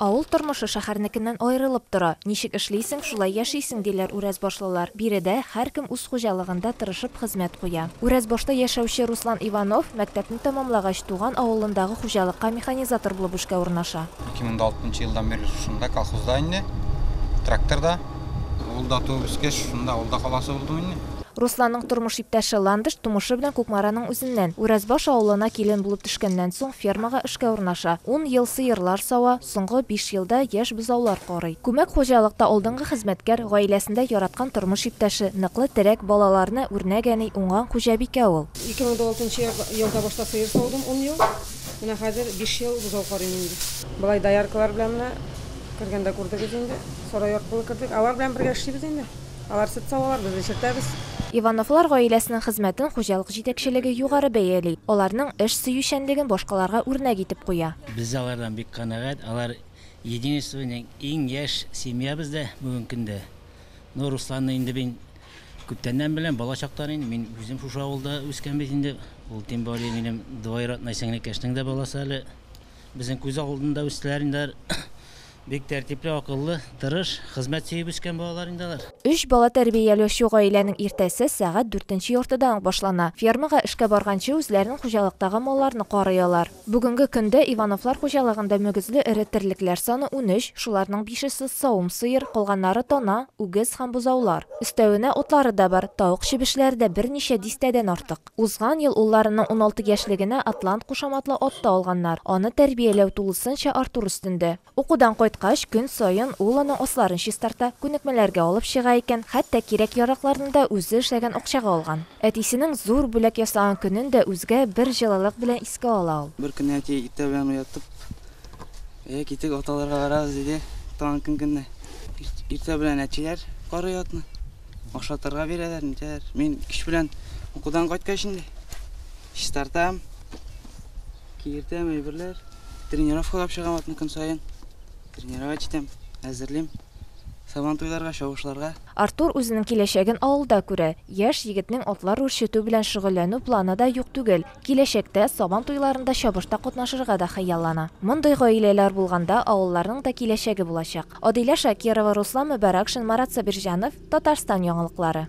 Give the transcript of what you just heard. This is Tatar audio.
Авыл тормышы шәхәрнекеннән аерылып тора. Ничек эшлисең, шулай яшисең, диләр Үрәзбашлылар. Биредә һәркем үз хуҗалыгында тырышып хезмәт куя. Үрәзбашта яшәүче Руслан Иванов, мәктәпне тәмамлагач, туган авылындагы хуҗалыкка механизатор булып эшкә урнаша. Ике мең дә алтынчы елдан бирле шушында, колхозда инде. Трактор да. Ул да туып-үскәч, шунда, авылда каласы булдым инде. Русланның тормыш иптәше Ландыш тумышы белән Кукмараның үзеннән. Үрәзбаш авылына килен булып төшкәннән соң, фермага эшкә урнаша. Ун ел сыерлар сава, соңгы биш елда яшь бозаулар карый. Күмәк хуҗалыкта алдынгы хезмәткәр, гаиләсендә яраткан тормыш иптәше, ныклы терәк, балаларны үрнәк әни, уңган хуҗабикә ул. 2006 елда башта сыер саудым, ун ел. Менә хәзер биш ел бозау карыйм инде. Болай дояркалар белән менә кергәндә күрдегез инде. Сарай аркылы кердек. Алар белән бергә эшлибез инде. Алар сөт савалар, без эчертәбез. Ивановлар гаиләсенең хезмәтен хуҗалык җитәкчелеге югары бәяли, аларның эш сөючәнлеген башкаларга үрнәк итеп куя. Без дә алардан бик канәгать, алар Единствоның иң яшь семьябыз да бүген көндә. Ну, Русланны инде мин күптәннән беләм, бала чактан инде, мин үзем шушы авылда үскән бит инде. Ул тем более минем двоюродной сеңлекәшнең дә баласы әле. Безнең күз алдында үстеләр инде алар. Бик тәртипле, акыллы, тырыш, хезмәт сөеп үскән балалар инде алар. Өч бала тәрбияләүче гаиләнең иртәсе сәгать дүртенче яртыдан ук башлана. Фермага эшкә барганчы үзләрен хуҗалыктагы малларны карый алар. Бүгенге көндә Ивановлар хуҗалыгында мөгезле эре терлекләр саны унөч, шуларның бишесе, савым сыер, калганнары тана, үгез һәм бозаулар. Өстәвенә утлары да бар, тавык чебешләре дә берничә дистәдән артык. Узган ел улларының уналты яшьлегенә Атлант кушаматлы ат та алганнар. Аны тәрбияләү тулысынча Артур өстендә. Укудан кайткач, көн саен ул аның асларын чистарта, күнекмәләргә алып чыга икән, хәтта кирәк-яракларны да үзе эшләгән акчага алган. Әтисенең зур бүләк ясаган көнен дә үзгә бер җылылык белән искә ала ул. Бер көнне әти иртә белән уятып, Әйе, китик, ат алырга барабыз, диде. Тагын көн көнне иртә белән әтиләр карый атны. Ашатырга бирәләр, нитәләр. Мин кич белән укудан кайткач инде чистартам, киертәм әйберләр. Тренировкалап чыгам атны көн саен. Тренировать итәм, әзерлим. Сабан туйларга, чабышларга. Артур үзенең киләчәген авылда күрә. Яшь егетнең атлар үрчетү белән шөгыльләнү планы да юк түгел. Киләчәктә Сабан туйларында чабышта катнашырга да хыяллана. Мондый гаиләләр булганда авылларның да киләчәге булачак. Адилә Шакирова, Руслан Мөбарәкшин, Марат Сабирҗанов, Татарстан яңалыклары.